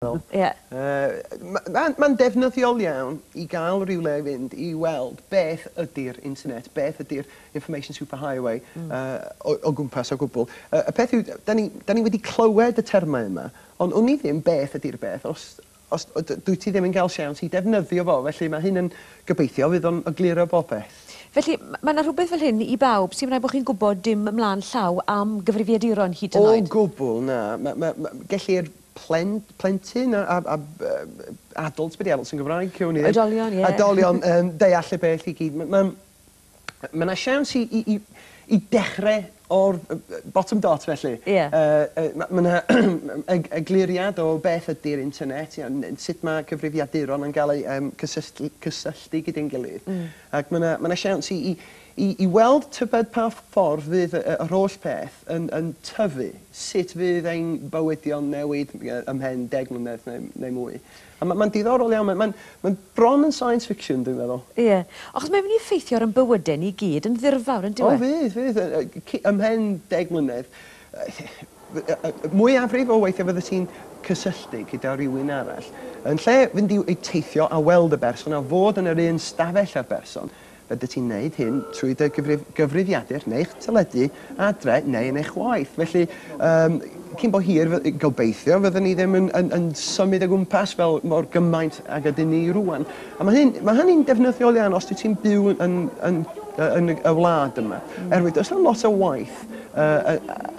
Ie. Mae mae'n ddefnyddiol iawn i gael rhywle i fynd i weld beth ydy'r internet, beth ydy'r information superhighway o gwmpas o gwbl. Y peth yw, dan ni dan ni wedi clywed y termau yma, ond wn i ddim beth ydy'r beth os os dwyt ti ddim yn cael siawns i ddefnyddio fo, felly mae hyn yn gobeithio fydd o'n egluro popeth. Felly, mae yna rhywbeth fel hyn i bawb, sdim rhaid bod chi'n gwybod dim ymlaen llaw am gyfrifiaduron hyd yn oed? O gwbl, na. Mae mae gellir plen- plentyn a a a b- yy b- adult, be 'di adult yn Gymraeg? Cawn ni ddim... Oedolion, ie. ...oedolion yn deall y peth i gyd. M- ma'n... Ma' 'na siawns i i i i dechre o'r yy yy bottom dot felly. Ie. Yy yy ma' ma' 'na eg- egluriad o beth ydi'r internet ia n- sut ma' cyfrifiaduron yn ga'l eu yym cysysll- cysylltu gyda'n gilydd. Hmm. Ac ma' 'na ma' 'na siawns i i I i weld tybed pa ffordd fydd y yr holl beth yn yn tyfu, sut fydd ein bywydio'n newid ymhen deg mlynedd neu neu mwy. A ma' ma'n diddorol iawn ma' ma'n ma'n bron yn science fiction dwi'n meddwl. Ie. Achos mae'n myn' i effeithio ar yn bywyde ni gyd yn ddirfawr yndyw O e? fydd fydd yy yy ci- ymhen deg mlynedd mwyafrif o weithie fyddet ti'n cysylltu gyda rywun arall. Yn lle fynd i i teithio a weld y berson a fod yn yr un stafell â'r berson Byddet ti'n gwneud hyn trwy dy gyfrifiadur neu'ch teledu adre neu yn eich waith. Felly, um, cyn bo hir, gobeithio, fyddwn ni ddim yn, yn, yn symud o gwmpas fel mor gymaint ag ydyn ni rwan. A mae hyn, mae hynny'n defnyddiol iawn os ti'n byw yn, yn, yn, yn y wlad yma. Mm. Erwydd, does yna lot o waith uh,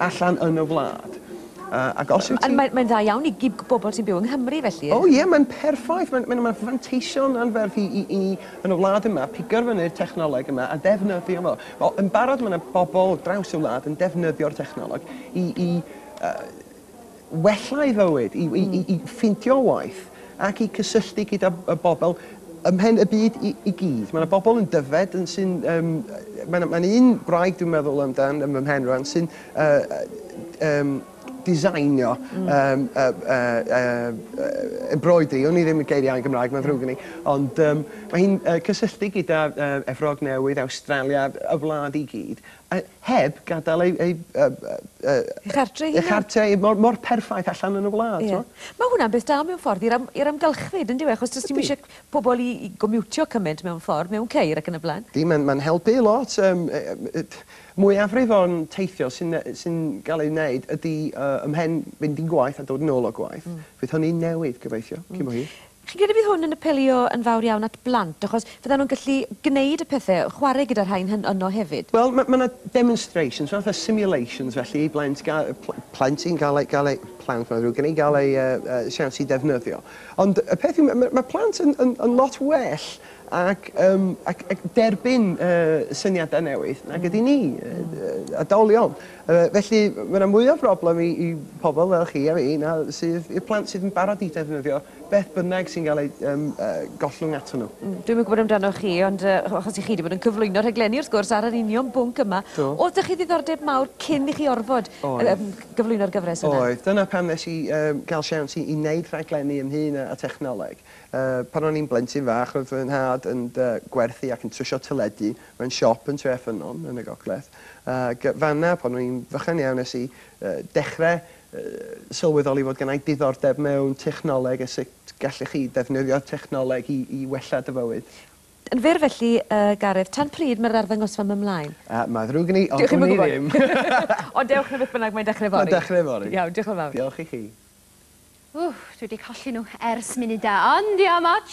allan yn y wlad. Uh, ac os yw ti... Mae'n mae dda iawn i, i bobl sy'n byw yng Nghymru felly. O oh, ie, yeah, mae'n perffaith. Mae'n mae, mae fanteision anferth i, i, i yn y wlad yma, pigo'r fyny'r technoleg yma a ddefnyddio fo. Wel, yn barod mae yna bobl o draws y wlad yn defnyddio'r technoleg i, i uh, wella ei fywyd, i, i, i, i ffeindio waith ac i cysylltu gyda y bobl ymhen y byd i, i gyd. Mae yna bobl yn dyfed yn sy'n... Um, Mae'n ma un gwraig dwi'n meddwl amdan ym mhen rhan sy'n uh, um, diseinio yym yy yy yy embroidery, wn i ddim y geiriau yn Gymraeg, mae'n ddrwg gen i, ond yym mae hi'n yy cysylltu gyda yy Efrog Newydd, Awstralia, y wlad i gyd, a heb gadael ei ei yy yy Ei chartre ei hunan. Ei chartre ei mor mor perffaith allan yn y wlad, t'mo'? Ie. Ma' hwnna'n beth da mewn ffordd i'r am- i'r amgylchfyd yndyw e achos do's dim isie pobol i i gomiwtio cyment mewn ffordd mewn ceir ac yn y bla'n. Ydi ma'n ma'n helpu lot yym yy yy yy t- Mwyafrif o'n teithio sy'n sy'n gael ei wneud ydy ymhen fynd i gwaith a dod yn ôl o gwaith. Fydd hynny'n newid, gobeithio, cyn bo hir. Chi'n credu bydd hwn yn apelio yn fawr iawn at blant, achos fyddan nhw'n gallu gwneud y pethe, chwarae gyda'r rhain hyn yno hefyd? Wel, ma' ma' 'na demonstrations, fatha simulations felly i blant ga- yy pl- plentyn gael ei gael ei plant mae'n ddrwg gen i, gael ei yy yy siawns i ddefnyddio. Ond y peth yw ma' ma' ma' plant yn yn yn lot well ac yym ac ac derbyn y syniadau newydd nag ydyn ni, y oedolion. Yy felly ma' 'na mwy o broblem i i pobl fel chi a fi na sydd i'r plant sydd yn barod i ddefnyddio beth bynnag sy'n gael ei yym yy gollwng ato nhw. Mm dwi'm yn gwbod amdanoch chi ond yy o- achos i chi 'di bod yn cyflwyno rhaglenni wrth gwrs ar yr union bwnc yma. Do. O'dd 'da chi ddiddordeb mawr cyn i chi orfod... Oedd. ...yym cyflwyno'r gyfres yna? Oedd dyna pam nes i yym ga'l siawns i i neud rhaglenni ynghŷn â â thechnoleg. Pan o'n i'n blentyn fach, roedd fy nhad yn gwerthu ac yn trwsio teledu mewn siop yn Tre Ffynnon, yn y gogledd, ac fan'na, pan o'n i'n fychan iawn, nes i dechrau sylweddoli fod gynna i diddordeb mewn technoleg a sut gallech chi ddefnyddio technoleg i wella dy fywyd. Yn fyr felly, Gareth, tan pryd mae'r arddangosfa 'ma mlaen? Mae'n ddrwg gen i, ond wn i ddim! Dewch i mi gwybod! Ond dewch 'na beth bynnag, mae'n dechrau fory. Mae'n dechrau fory. Iawn, diolch yn fawr. Diolch i chi. Ww, dwi 'di colli nhw ers munud da, ond diom ots,